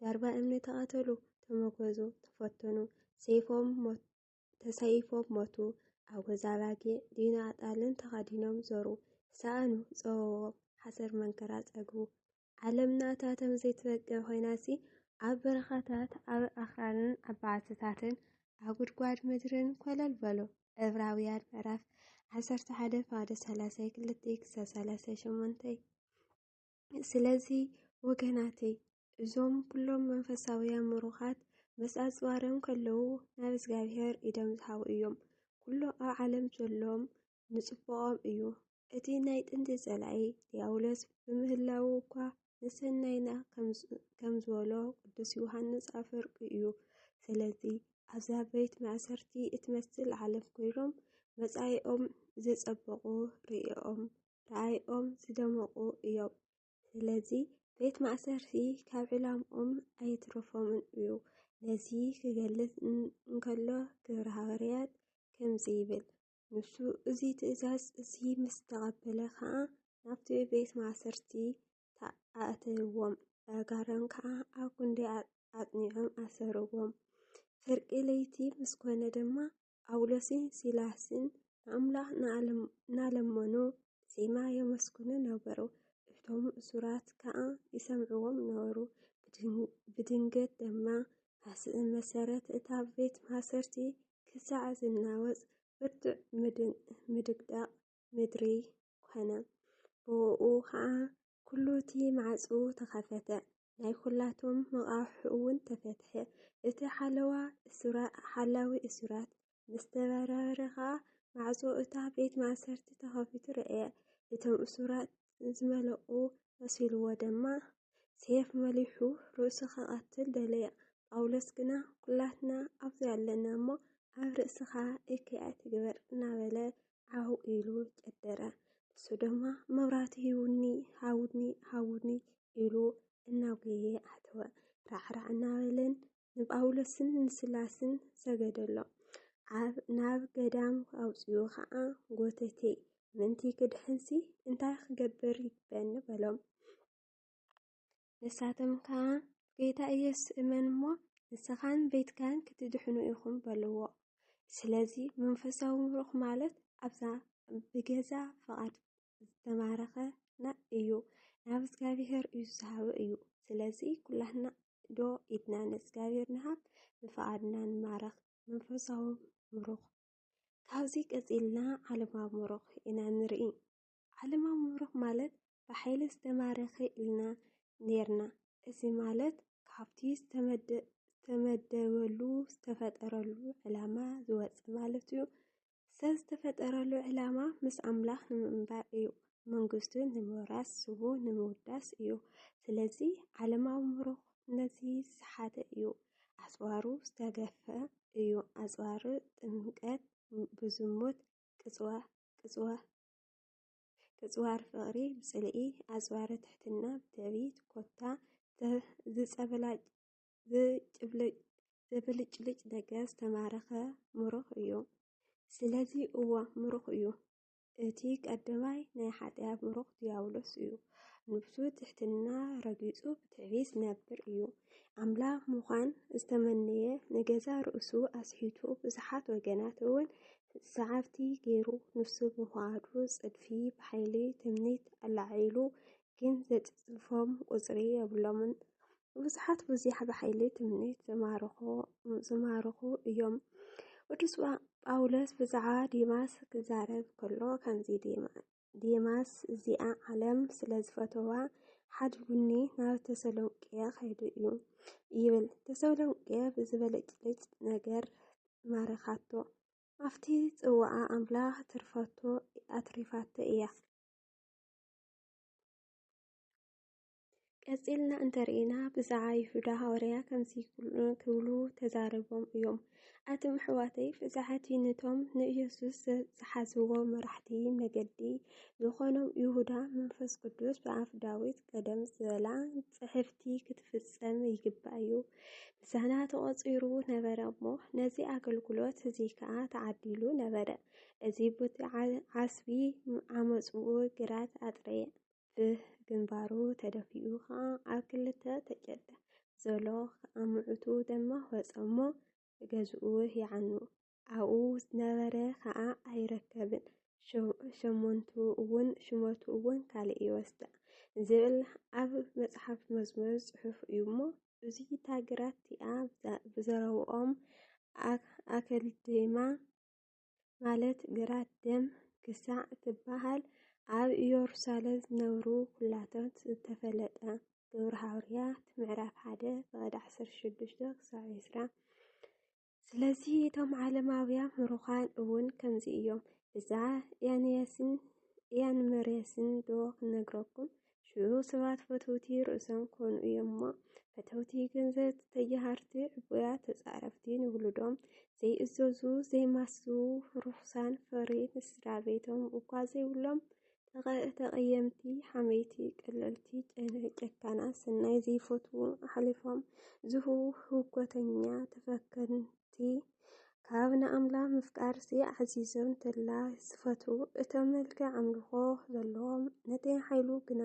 ዳርባ እምኒ ተቐተሉ፣ ተመጎዙ፣ ተፈተኑ፣ ሰይፎም ሞት ተሰይፎም ሞቱ፣ ኣጎዛ ኣባጊዕ ዲና ኣጣልን ተኸዲኖም ዞሩ፣ ሰኣኑ፣ ጸወዎም፣ ሓሰር መንከራ ጸግቡ። ዓለምና እታ ተም ዘይትበቅዕ ኮይናሲ ኣብ በረኻታት፣ ኣብ ኣኽራንን ኣብ በዓትታትን፣ ኣብ ጉድጓድ ምድርን ኮለል በሉ። ዕብራውያን ምዕራፍ ዓሰርተ ሓደ ፋደ ሰላሳይ ክልተይ ክሳብ ሰላሳይ ሸሞንተይ ስለዚ ወገናተይ እዞም ኩሎም መንፈሳውያን ምሩኻት ምስ ኣጽዋርም ከለዉ ናብ እግዚኣብሔር ኢዶም ዝሃቡ እዮም። ኩሎ ኣብ ዓለም ዘሎም ንጽቡቖም እዩ። እቲ ናይ ጥንቲ ጸላኢ ዲያብሎስ ብምህላዉ እኳ ንሰናይና ከም ዝበሎ ቅዱስ ዮሃንስ ኣፈወርቂ እዩ። ስለዚ ኣብዛ ቤት ማእሰርቲ እትመስል ዓለም ኮይኖም መጻኢኦም ዘጸበቑ ርእኦም ራእይኦም ዝደመቑ እዮም። ስለዚ ቤት ማእሰርቲ ካብ ዕላምኦም ኣየትረፎምን እዩ። ነዚ ክገልጽ እንከሎ ግብረ ሃዋርያት ከምዚ ይብል፣ ንሱ እዚ ትእዛዝ እዚ ምስ ተቐበለ ኸኣ ናብቲ ቤት ማእሰርቲ ኣእተይዎም፣ ብኣእጋሮም ከኣ ኣብ ክንዲ ኣጽኒዖም ኣሰርዎም። ፍርቂ ለይቲ ምስ ኮነ ድማ ጳውሎስን ሲላስን ንኣምላኽ እናለመኑ ብዜማ የመስግኑ ነበሩ፣ እቶም እሱራት ከኣ ይሰምዕዎም ነበሩ። ብድንገት ድማ መሰረት እታ ቤት ማእሰርቲ ክሳዕ ዝናወጽ ብርቱዕ ምድቅዳቕ ምድሪ ኰነ፣ ብእኡ ኸኣ ኩሉ እቲ ማዕጹ ተኸፈተ፣ ናይ ኩላቶም መቓውሕ'ውን ተፈትሐ፣ እቲ ሓለዋ እሱራት ሓላዊ እሱራት ምስ ተበራበረ ኸኣ ማዕጾ እታ ቤት ማእሰርቲ ተኸፊቱ ረኣየ፣ እቶም እሱራት ዝመለቑ መሲሉዎ ደማ ሴፍ መሊሑ ርእሱ ክቐትል ደለየ፣ ጳውሎስ ግና ኩላትና ኣብዚ ኣለና እሞ ኣብ ርእስኻ እከይ ኣይትግበር እናበለ ዓው ኢሉ ጨደረ። ንሱ ድማ መብራህቲ ሂውኒ ሃውኒ ሃውኒ ኢሉ እናጎየ ኣተወ። ራዕራዕ እናበለን ንጳውሎስን ንስላስን ሰገደሎም። ኣብ ናብ ገዳም ኣውፅኡ ኸዓ ጎተቴ ምንቲ ክድሕንሲ እንታይ ክገብር ይግበኒ በሎም። ንሳቶም ከኣ ጐይታ ኢየሱስ እመን እሞ ንስኻን ቤትካን ክትድሕኑ ኢኹም በልዎ። ስለዚ መንፈሳዊ ምሩኽ ማለት ኣብዛ ብገዛ ፍቓድ ዝተማረኸና እዩ ናብ እግዚኣብሔር እዩ ዝሃበ እዩ። ስለዚ ኩላትና ዶ ኢድና ንእግዚኣብሔር ንሃብ ብፍቓድና ንማረኽ። መንፈሳዊ ምሩኽ ካብዚ ቀጺልና ዓለማዊ ምሩኽ ኢና ንርኢ። ዓለማዊ ምብሩኽ ማለት ብሓይሊ ዝተማረኸ ኢልና ኔርና። እዚ ማለት ካብቲ ዝተመደበሉ፣ ዝተፈጠረሉ፣ ዕላማ ዝወጸ ማለት'ዩ። ሰብ ዝተፈጠረሉ ዕላማ ምስ ኣምላኽ ንምንባር እዩ። መንግስቱ ንምውራስ፣ ስሙ ንምውዳስ እዩ። ስለዚ ዓለማዊ ምብሩኽ ነዚ ዝሰሓተ እዩ። ኣጽዋሩ ዝተገፈ እዩ። ኣጽዋር ጥምቀት ብዝሙት ቅጽዋ ቅጽዋ ቅጽዋር ፍቕሪ ብጽልኢ ኣጽዋረ ትሕትና ብትዕቢት ኮታ ዝብልጭልጭ ነገር ዝተማረኸ ምሩኽ እዩ። ስለዚ እዎ ምሩኽ እዩ። እቲ ቀዳማይ ናይ ሓጢኣት ምሩኽ ድያብሎስ እዩ። ንብሱ ትሕትና ረጊጹ ብትዕቢት ዝነብር እዩ። ኣምላኽ ምዃን ዝተመነየ ንገዛ ርእሱ ኣስሒቱ ብዙሓት ወገናት እውን ሰዓርቲ ገይሩ ንሱ ብፍቓዱ ጽድፊ ብሓይሊ ትምኒት ኣላዒሉ ግን ዘጽድፎም ቁጽሪ የብሎምን። ብዙሓት ብዙሕ ብሓይሊ ትምኒት ዝማርኹ እዮም። ቅዱስ ጳውሎስ ብዛዕባ ዲማስ ክዛረብ ከሎ ከምዚ ዴማስ እዚኣ ዓለም ስለ ዝፈተዋ ሓዲ ቡኒ ናብ ተሰሎንቄ ኸይዱ እዩ ይብል። ተሰሎንቄ ብዝበለጭልጭ ነገር ማረኻቶ። ኣብቲ ጽዋኣ ኣምላኽ ትርፈቶ ኣትሪፋቶ እያ። ቀጺልና እንተርኢና ብዛዓ ይሁዳ ሃዋርያ ከምዚ ክብሉ ተዛረቦም እዮም። ኣቱም ኣሕዋተይ ብዛዓቲ ነቶም ንኢየሱስ ዝሓዝዎ መራሕቲ መገዲ ዝኾኖም ይሁዳ መንፈስ ቅዱስ ብኣፍ ዳዊት ቀደም ዝበላ ጽሕፍቲ ክትፍጸም ይግባእ እዩ። ብዛና ተቖጺሩ ነበረ እሞ ነዚ ኣገልግሎት እዚ ከዓ ተዓዲሉ ነበረ። እዚ ቦቲ ዓስቢ ዓመጽኡ ግራት ኣጥረየ። ብግንባሩ ተደፊኡ ኸኣ ኣብ ክልተ ተጨደ። ዞሎ ኸኣ ምዑቱ ደማ ወጸ እሞ ገዝኡ ይዓኑ። ኣብኡ ዝነበረ ኸኣ ኣይረከብን። ሸሞንቱ እውን ሽመቱ እውን ካልእ ይወስዳ ዝብል ኣብ መጽሓፍ መዝሙር ጽሑፍ እዩ እሞ እዙይ እታ ግራት እቲኣ ብዘረብኦም ኣከልድማ ማለት ግራት ደም ክሳዕ ትበሃል ኣብ ኢየሩሳሌም ዝነብሩ ኩላቶት ዝተፈለጠ ግብሪ ሃውርያት ምዕራፍ ሓደ ፍቐድ ዓሰርተ ሽዱሽተ ክሳዕ ዕስራ ስለዚ እቶም ዓለማውያን ምሩኻን እውን ከምዚ እዮም። እዛ ያንያስን ያንመርያስን ዶ ክነግረኩም ሽዑ ሰባት ፈተውቲ ርእሶም ኮኑ እዮም እሞ ፈተውቲ ገንዘብ ተጀሃርቲ ዕቡያት ተፃረፍቲ ንውሉዶም ዘይእዘዙ ዘይማሱ ርሑሳን ፍሪ ንስድራ ቤቶም እኳ ዘይብሎም ተቐየምቲ ሓመይቲ ቀለልቲ ጨካና ሰናይ ዘይፈትዉ ኣሕሊፎም ዝህቡ ህውከተኛ ተፈከን እቲ ካብ ንኣምላኽ ምፍቃርሲ ኣዕዚዞም ተላ ዝፈቱ እቶም መልክዕ ኣምልኾ ዘለዎም ነቲ ሓይሉ ግና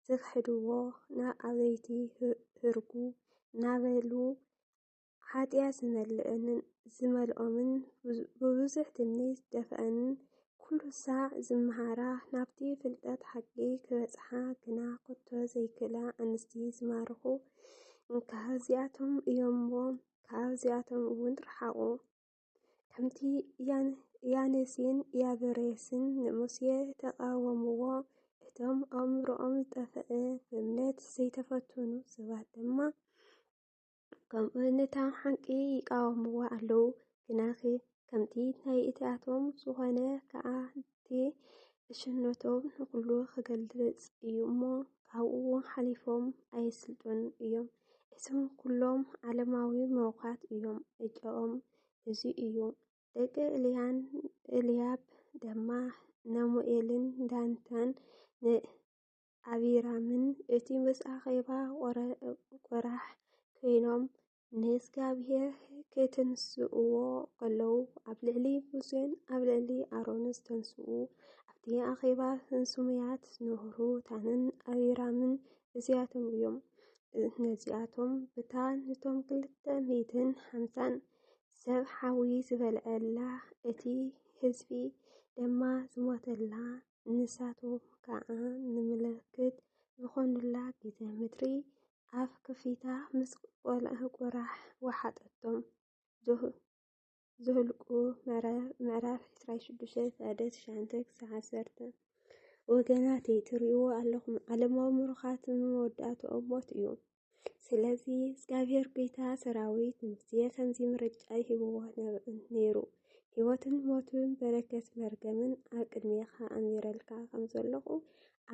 ዝኽሕድዎ ናብ ኣበይቲ ህርጉ እናበሉ ሓጢኣት ዝመልእንን ዝመልኦምን ብብዙሕ ትምኒ ዝደፍኣንን ኩሉ ሳዕ ዝመሃራ ናብቲ ፍልጠት ሓቂ ክበጽሓ ግና ኮቶ ዘይክእላ ኣንስቲ ዝማርኹ እንካ እዚኣቶም እዮም እሞ ካብዚኣቶም እውን ርሓቑ። ከምቲ ያኔስን ያበሬስን ንሙሴ ተቓወምዎ፣ እቶም ኣእምሮኦም ዝጠፍአ ብእምነት ዘይተፈተኑ ሰባት ድማ ከምኡ ነታ ሓቂ ይቃወምዋ ኣለዉ። ግናኺ ከምቲ ናይ እቲኣቶም ዝኾነ ከኣ እቲ ዕሽነቶም ንኹሉ ክገልጽ እዩ እሞ ካብኡ ሓሊፎም ኣየስልጡን እዮም። እቶም ኩሎም ዓለማዊ ምሩኻት እዮም ዕጨኦም እዚ እዩ። ደቂ እልያን እልያብ ደማ ነሙኤልን ዳንታን ን ኣቢራምን እቲ ምስ ኣኼባ ቆራሕ ኮይኖም ንእግዚኣብሔር ኬትንስእዎ ኸለዉ ኣብ ልዕሊ ሙሴን ኣብ ልዕሊ ኣሮን ዝተንስኡ ኣብቲ ኣኼባ ስሙያት ኖህሩታንን ኣቢራምን እዚኣቶም እዮም። ነዚኣቶም ብታ ንቶም ክልተ ሚእትን ሓምሳን ሰብ ሓዊ ዝበልዐላ እቲ ህዝቢ ድማ ዝሞተላ ንሳቶም ከዓ ንምልክት ዝኾኑላ ግዜ ምድሪ ኣፍ ክፊታ ምስ ቁራሕ ወሓጠቶም። ዘኍልቍ ምዕራፍ ዕስራን ሸዱሽተን ፍቓደ ትሽዓተ ክሳዕ ዓሰርተ። ወገናተይ ትርእይዎ ኣለኹም ዓለማዊ ምሩኻት ንመወዳእትኦም ሞት እዩ። ስለዚ እግዚኣብሄር ጐይታ ሰራዊት ንሙሴ ከምዚ ምርጫ ይህብዎ ነይሩ። ህይወትን ሞትን በረከት መርገምን ኣብ ቅድሜኻ ኣንቢረልካ ከም ዘለኹ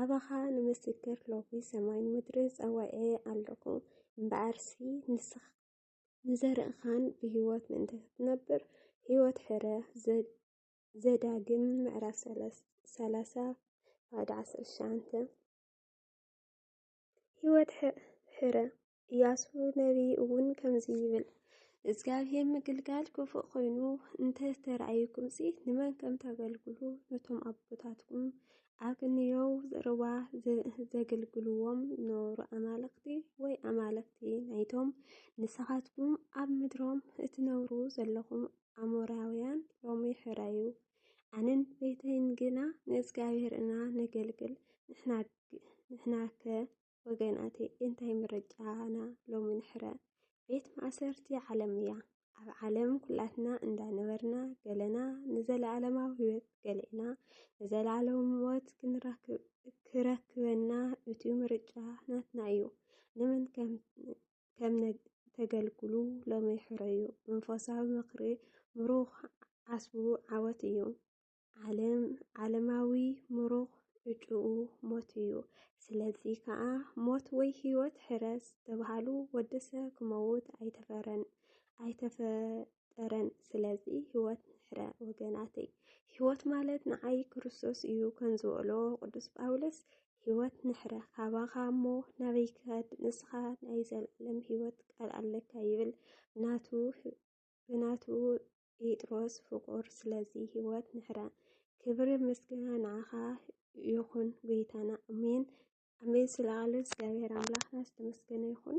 ኣባኻ ንምስክር ሎሚ ሰማይን ምድርን ጸዋዔ ኣለኹ እምበኣርሲ ንስኻ ንዘርእኻን ብህይወት ምእንቲ ክትነብር ህይወት ሕረ ዘዳግም ምዕራፍ ሰላሳ ባዕዲ ዓሰርተ ሸዓንተ ህይወት ሕረ እያሱ ነቢይ እውን ከምዚ ይብል እግዚኣብሔር ምግልጋል ክፉእ ኮይኑ እንተ ተረኣዩኩምሲ ንመን ከም ተገልግሉ ነቶም ኣቦታትኩም ኣግንዮው ዘረባ ዘገልግልዎም ኖሩ ኣማለኽቲ ወይ ኣማለኽቲ ናይቶም ንስኻትኩም ኣብ ምድሮም እትነብሩ ዘለኹም ኣሞራውያን ሎሚ ሕረዩ ኣንን ቤተይን ግና ንእግዚኣብሔር እና ነገልግል ንሕናከ ወገናተይ እንታይ ምርጫና ሎሚ ንሕረ ቤት ማእሰርቲ ዓለም እያ። ኣብ ዓለም ኩላትና እንዳነበርና ገለና ንዘለኣለማዊ ህይወት ገሌና ንዘለኣለዊ ሞት ክረክበና እቲ ምርጫ ናትና እዩ። ንመን ከም ተገልግሉ ሎሚ ሕረዩ። መንፈሳዊ ምክሪ ምሩኽ ዓስቡ ዓወት እዩ። ዓለም ዓለማዊ ምሩኽ ዕጩኡ ሞት እዩ። ስለዚ ከዓ ሞት ወይ ህይወት ሕረስ ተባሃሉ ወዲ ሰብ ክመውት ኣይተፈረን ኣይተፈጠረን። ስለዚ ህይወት ንሕረ ወገናተይ። ህይወት ማለት ንዓይ ክርስቶስ እዩ ከንዝበሎ ቅዱስ ጳውሎስ ህይወት ንሕረ ካባኻ እሞ ናበይ ክኸድ ንስኻ ናይ ዘለዓለም ህይወት ቃል ኣለካ ይብል ናቱ ብናቱ ጴጥሮስ ፍቁር ስለዚ ህይወት ንሕረ ክብሪ ምስግና ንዓኻ ይኹን ጎይታና ኣሜን ኣሜን ስለ ቃሉ እግዚኣብሔር ኣምላኽና ዝተመስገነ ይኹን